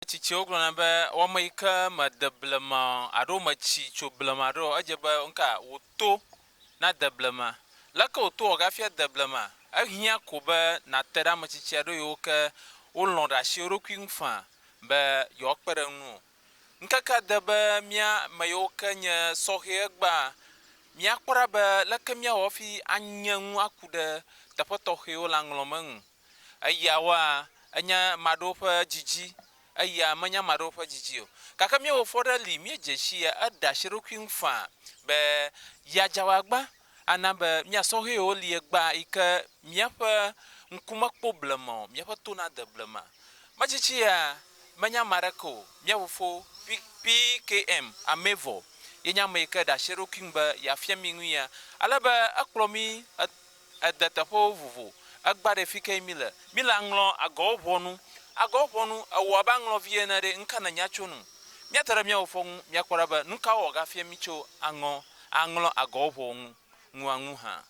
Tsitsiwo gblɔna be wɔme yi ke mede blema o alo metsi tso blema ɖo, edze be nuka wò to nade blema. Leke wò to wɔ gafi ade blema? Ehiã ko be nàte ɖe ame tsitsi aɖewo yiwo ke wolɔ̃ ɖe asi wo ɖokui ŋu faa be yewoakpe ɖe eŋu o. Ŋkekea de be mía ame yiwo ke nye sɔhɛ egbea míakpɔ ɖa be leke míawɔ hafi anye nu aku ɖe teƒe tɔxɛwo le aŋlɔme nu. Eya wɔa enya ame aɖewo ƒe didi eya menya ame aɖewo ƒe didi o. Gake mía Fofo aɖe li, míedze si ye, eɖe asi ɖe eɖokui ŋu faa be yeadze awu agba ana be mía sɔhɛwo li egbea yi ke míaƒe ŋku mekpɔ blema o, míaƒe to nade blema. Medze si yea, menya ame aɖeke o, mía Fofo, PKM, amee vɔ. Yenye ame yi ke ɖe asi ɖe eɖokui ŋu be yeafia mí nu ya. Ale be ekplɔ mí Ede teƒewo vovo. Egbã ɖe fike yi mi le. Mi le aŋlɔ agɔwo ʋɔnu. Agɔwo ʋɔnu, ewɔ abe aŋlɔ vie ene ɖe, nuka nènya tso nu? Mia te ɖe miawo fɔ ŋu, mia kpɔ ɖa be nuka wɔ ga fia mi tso aŋɔ, aŋlɔ agɔwo ʋɔwo ŋu, ŋua ŋu hã.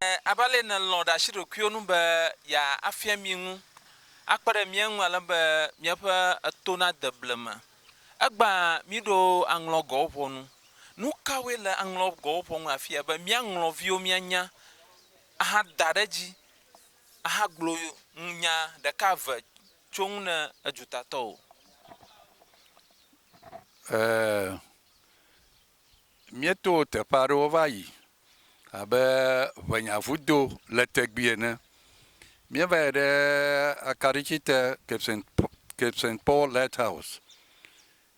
E, abe ale ne lɔ̃ ɖe asi ɖokuiwo nu be ya afia mi ŋu, akpe ɖe mia ŋu ale be miaƒe eto na de blema. Egbea míɖo aŋlɔgɔwo ƒɔnu. Nu kawoe le aŋlɔgɔwo ƒɔnu afia be míaŋlɔ viwo míanya ahada ɖe edzi ahagblɔ nya ɖeka eve tso ŋu ne edutatɔwo? Ɛɛ, Míeto teƒe aɖewo va yi abe Ʋɛnyavudo le Tegbi ene. Míeva yi ɖe akaɖiti te Cape Saint Cape Saint Paul Lighthouse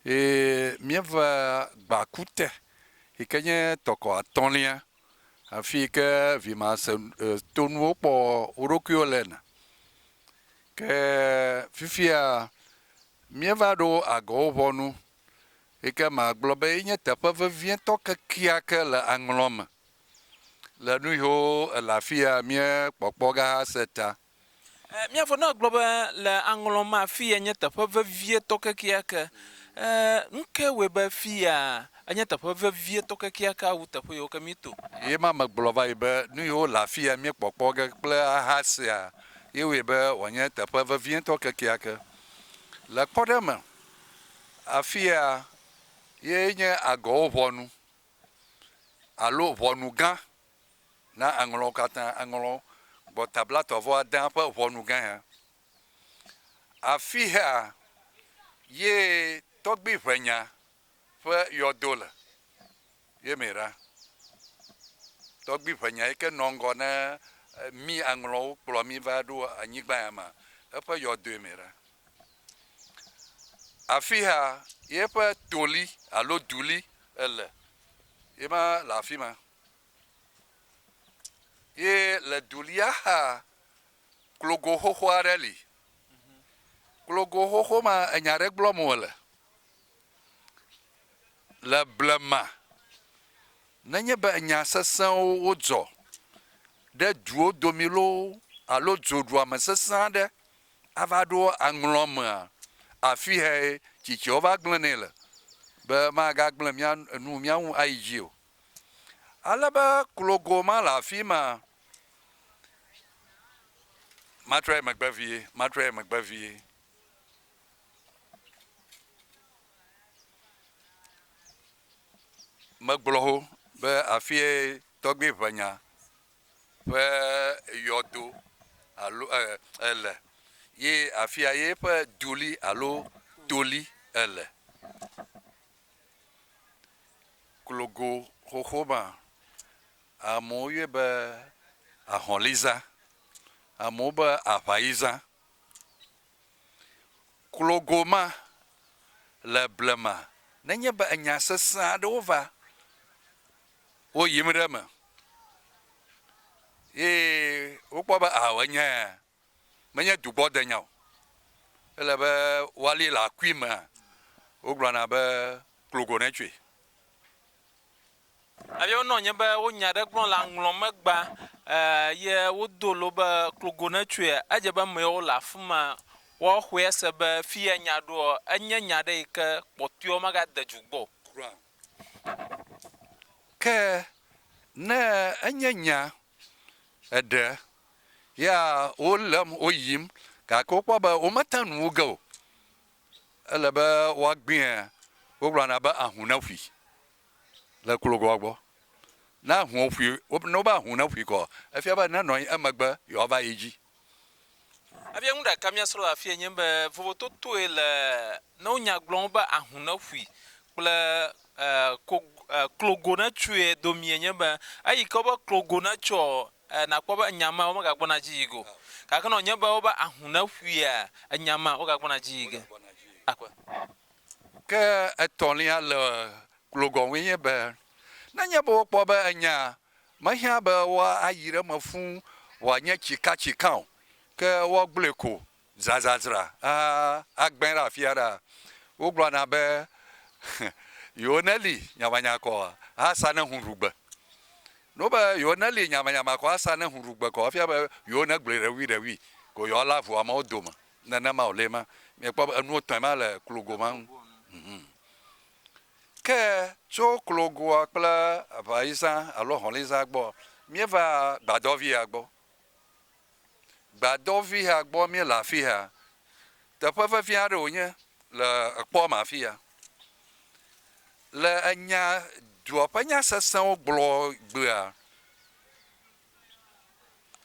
eye míeva gbaku te yi ke nye tɔkɔ atɔ̃lia afi yi ke vimase e tonuwo kpɔ wo ɖokuiwo le na. Ke fifia míeva ɖo agɔwo ŋɔnu Ekema gblɔ be enye teƒe vevietɔ kekeake le aŋlɔ me, le nu yiwo ele afia míekpɔkpɔ ge hase ta. E, mía fofoa gblɔ be le aŋlɔ me afia nye teƒe vevietɔ kekeake. E, nu kae wɔe be fia enye teƒe vevietɔ kekeakea wu teƒe yiwo ke míeto? Ye ma megblɔ va yi be nu yiwo le afia míekpɔkpɔ ge kple ahasea ye wɔe be wòanye teƒe vevietɔ kekeake. Le kpɔɖeŋu me, Afia ye nye agɔwo ʋɔnu alo ʋɔnu gã na aŋlɔwo katã, aŋlɔ gbɔta blatɔ̃-vɔ adea ƒe ʋɔnu gã ya. Afia ye tɔgbiʋenya ƒe yɔdo le. Ye me ɖa. Tɔgbui ƒe nya yike nɔ ŋgɔ ne mí aŋlɔwo kplɔ mí va ɖo anyigba ya mea, eƒe yɔdoe me ɖa. Afia ye ƒe to li alo du li ele. Ye ma le afi ma. Ye le du lia xa, klogo xoxo aɖe li. Klogo xoxo ma enya ɖe gblɔm wòle. Le blema, nenye be enya sesẽwo wodzɔ ɖe duwo domi loo alo dzoɖuame sesẽ aɖe ava ɖo aŋlɔ emea, afihae tsitsiawo va gblẽnɛ le, be magagblẽ mía nu mía ŋu ayi dzi o. Ale be klogo ma le afi ma, matrɔe megbe vie, matrɔe megbe vie. Megblɔ ho be afie tɔgbui ŋɛ̃a ƒe yɔdo alo eer le ye afia ye ƒe duli alo toli ele. Klogo xoxo ma, amewo yɔe be ahɔ̃liza, amewo be aŋayiza. Klo goma le blema nenye be enya sesẽ aɖewo va wo yim ɖe eme eye wokpɔ be ao enyae menye dugbɔdenya o, ele be woali le akui mea, wogblɔna be klo go netsoe. Eye wonɔ anyi be wo nya ɖe gblɔm le aŋlɔ me gbã, eye wodo lo be klogo netsoe. Edze be amewo le afi ma woaxɔe se be fiye nya ɖoa, enye nya ɖe yi ke kpɔtɔewo magade dzu gbɔ o. Kura o. Ke ne enye nya eɖe ya wolém woyim gake wokpɔ be womete nu wu ge o, ele be woagbea, wogblɔna be ahu neƒui. le klogoa gbɔ. Ne ahũwo ƒui, ne wobe ahũ neƒui kɔ, efia be nenɔ anyi emegbe yewoava yi edzi. Efia nu ɖeka míasrɔ̃ le afie nye be vovototoe le ne wonya gblɔm be ahũ neƒui kple klogo netsoe domee nye be eyi ke wobe klogo netsoɔ, nakpɔ be enya mea womegagbɔna edzi yi ge o. Gake ne wònye be wobe ahũ neƒuia, enya mea wogagbɔna edzi yi ge. Ke etɔ̃lia le glogɔnŋui nye be, nenye be wokpɔ be enyaa mehiã be woayi ɖe eme fũ wòanye tsikatsikã o, ke woagblɔe ko zazazra agbẽ ɖe afia ɖea, wogblɔna be, Yewo neli nyamanyakɔ asa ne hũ ɖu gbe. No be yewo neli nyamanyakɔ asa ne hũ ɖu gbe kɔ efia be yewo negblɔe ɖeŋuiɖeŋui ko yewoalé avu amewo dome. nenema o le ma mia kpɔ be enuwo tɔe ma le klogo ma ŋu hum ke tso klogoa kple eʋa yi zã alo hɔli zã gbɔ mia va gbadɔvi ya gbɔ gbadɔvi ya gbɔ mia le afi ya teƒe vevi aɖe wonye le ekpɔ ma afi ya le enya dua ƒe nya sesẽwo gblɔ gbea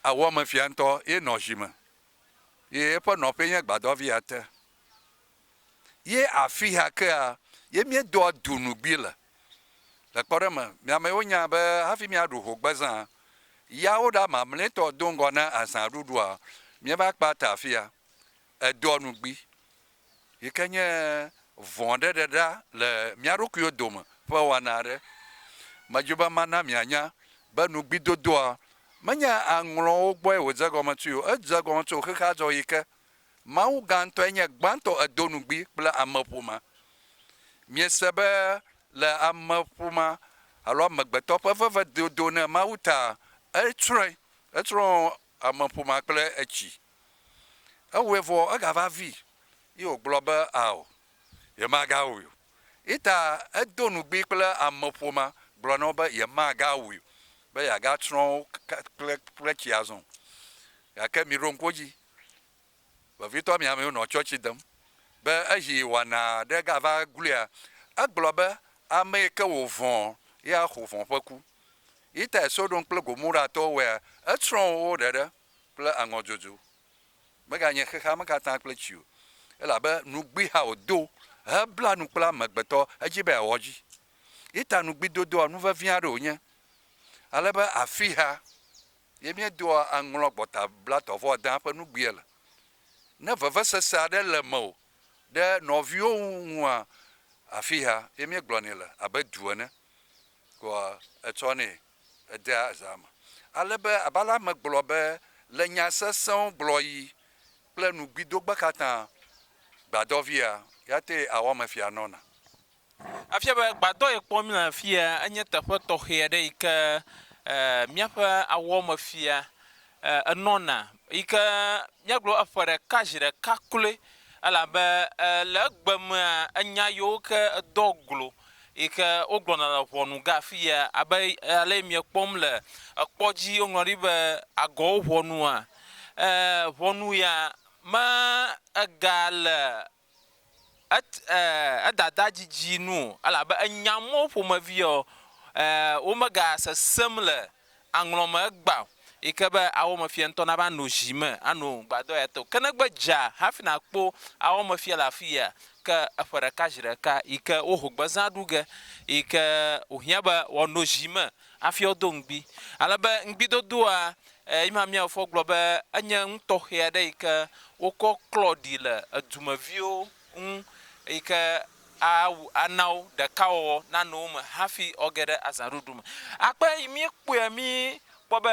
awɔ me fia ŋutɔ ye nɔ zi me ye eƒe nɔƒee nye gbadɔvia te. Ye afia kea, ye míedoa du nugbi le. Le kpɔɖeŋu me, mi amewo nya be hafi míaɖu hogbezã, yawo ɖa mamlɛtɔ do ŋgɔ na azãɖuɖua, míeva kpata afia. Edoa nugbi yi ke nye vɔ̃ɖeɖeɖea le mía ɖokuiwo dome ƒe wɔna aɖe. Medi be mana mianya be nugbidodoa menye aŋlɔwo gbɔe wòdze egɔme tsoe o, edze egɔme tso xexea dzɔɣi ke. Mawu gã ŋutɔe nye gbãtɔ edo nugbi kple ameƒomea. Miese be le ameƒomea alo amegbetɔ ƒe vevedodo na Mawu taa, etsrɔ̃e, etsrɔ̃ ameƒomea kple etsi. Ewɔe vɔ egava vii, ye wògblɔ be, Ao, yemagawui o. Ita edo ŋugbi kple ameƒo ma, gblɔ na wo be yemagawui o, be yeagatsrɔ̃ wo kple tsi azɔ o. Gake miɖo ŋku edzi, vevitɔ mi amewo nɔ tsɔtsi dem be esi wɔna aɖe gava gluia, egblɔ be, Ame yi ke wòvɔ̃ ye axɔ vɔ̃ ƒe ku. Itae Sodom kple Gomoratɔwo wɔea, etsrɔ̃ wo ɖeɖe. kple aŋɔ dzodzo. Meganye xexea me katã kple tsi o, elabe nugbiha wòdo hebla nu kple amegbetɔ hedzi be yeawɔ edzi. Ita nugbi dodoa nu vevi aɖe wònye, ale be afixea ye míedoa aŋlɔ gbɔta blatɔ vɔ adea ƒe nugbiɛ le. Ne vevesese aɖe le mewò ɖe nɔviwò ŋua, afixea ye míegblɔnɛ le, abe du ene koa etsɔnɛ. edea zã me ale be abe ale megblɔ be, Le nya sesẽwo gblɔɣi kple nugbidogbe katã, gbadɔvia, ya tee awɔ eme fia nɔna. Efia be gbadɔ yi kpɔm míele afia enye teƒe tɔxɛ aɖe yi ke míaƒe awɔmefia e, enɔna, yi ke míagblɔ be eƒe ɖeka zi ɖeka kloe, elabe e, le egbe mea, enya yiwo ke edɔ glo yi ke wogblɔna le ʋɔnu ga afi ya, abe ale yi miekpɔm le ekpɔ dzi, woŋlɔ ɖi be agɔwo ʋɔnua, e, ʋɔnu ya me ega le Et, e, edada didi nu o, elabe enya mɔ wo ƒomeviɔ, e, womegasesem le aŋlɔ me egbea o, yi ke be ao me fiɛ ŋutɔ nava no zi me ano gbadɔ ya te o. Ke ne gbe dza hafi nakpɔ ao me fiɛ le afi yea, ke eƒe ɖeka zi ɖeka yi ke woho gbezã ɖu ge, yi ke wohiã be woano zi me Hafi wodo ŋugbi. Ale be ŋugbidodoa yi ma míafoɔ gblɔ be enye nu tɔxɛ aɖe yi ke wokɔ klɔ ɖi le edumeviwo ŋu yi ke awu ana wo ɖekawɔwɔ nanɔ wo me hafi woage ɖe azãɖuɖu me. Akpe yi míekpɔea míkpɔ be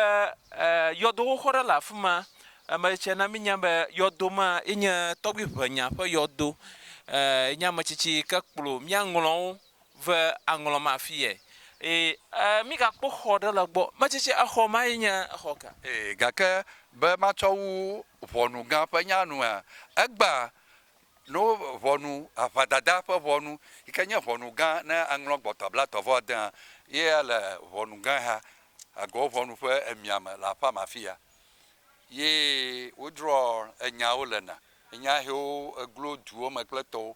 yɔdo xoxo ɖe le afi ma. Eme tse na mínya be yɔdo ma ye nye tɔgbiʋenya ƒe yɔdo. Enye ametsitsi yi ke kplɔ míaŋlɔwo Ve aŋlɔ ma fi yɛ. E, e, mi ga kpɔ xɔ ɖe le gbɔ. Mɛ tsitsi, exɔ ma yi nye exɔ ka? E, gake be ma tsɔ wu ʋɔnu gã ƒe nya nu hã, e gba no ʋɔnu aʋa dada ƒe ʋɔnu, yi ke nye ʋɔnu gã ne a ŋlɔ gbɔtɔa blatɔ vɔ adea, ye a le ʋɔnu gã ha, a gɔ ʋɔnu ƒe emia me le aƒea me afiya. Ye wo drɔ enya wo le na, enya hewo e glo duwo me kple tɔwo.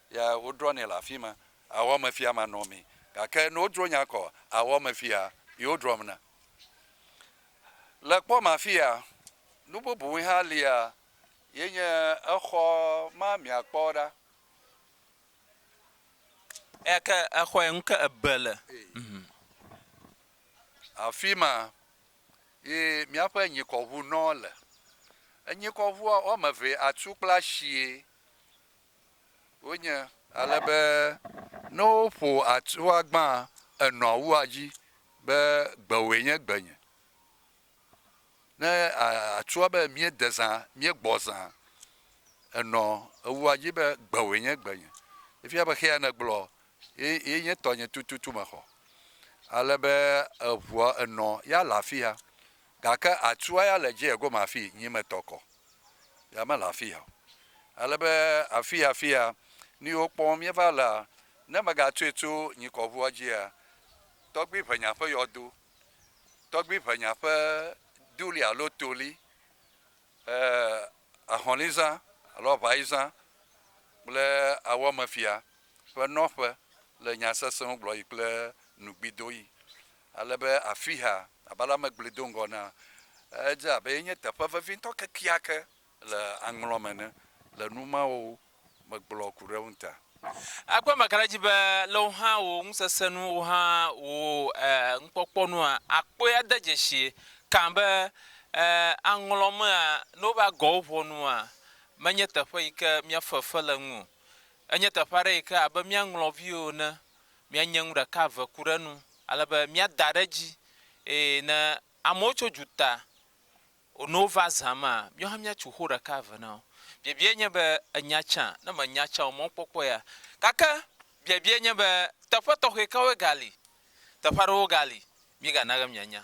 Ya wodrɔ̃nɛ le afi ma, awɔ eme fia manɔmee. Gake ne wodro nya kɔ awɔ eme fia yi wodrɔ̃m na. Le kpɔ ma fia, nu bubue hã lia ye nye exɔ ma miakpɔ ɖa. Eya ke exɔe ŋu ke ebe le. Afi ma ye miaƒe nyikɔʋu nɔ le. Enyikɔʋua woame eve atu kple ashie. Wonye ale be ne woƒo atsua gbãa, enɔa wua dzi be gbewòe nye gbenye. Ne atsua be míede zã, míegbɔ zã, enɔ ewua dzi be gbewòe nye gbenye. Efia be xea nègblɔ ye ye nye tɔnye tututu mexɔ. Ale be eŋua enɔ ya le afia Gake atua ya le dziehe gome afii nyi metɔ kɔ, ya mele afiya o. Ale be afii afia ni wokpɔm míeva lea, ne megatsoe tso nyikɔʋua dzia, tɔgbui ʋenya ƒe yɔdo, tɔgbui ʋenya ƒe duli alo toli, e, ahɔ̃lizã alo aʋaizã kple awɔmefia ƒe nɔƒe le nya sesẽwo gblɔɣi kple nugbidoɣi. Ale be afia, abe ale ame gblɔe do ŋgɔ enea, edze abe ye nye teƒe vevitɔ kekeake le aŋlɔ me ene le nu mawo megblɔ ku ɖe eŋu ta. Ekpɔe meka ɖe edzi be le wò hã wò ŋusesẽ nu, wò hã wò nukpɔkpɔ nua, àkpɔe ade dzesii kã be aŋlɔ mea, ne wova gɔ wo ʋɔnua, menye teƒe yi ke míafe fe le eŋu o. Enye teƒe aɖe yi ke abe mía ŋlɔviwo ene míanye nu ɖeka eve ku ɖe enu ale be míada ɖe edzi eye ne amewo tso duta ne wova zã mea, míawo hã míatso xoxo ɖeka eve na wo. Biabiae nye be ènya tsã? Ne mènya tsã o, mɔkpɔkpɔ ya. Gake biabiae nye be teƒe tɔxɛ kawoe gali? Teƒe aɖewo gali, mígana be mianya.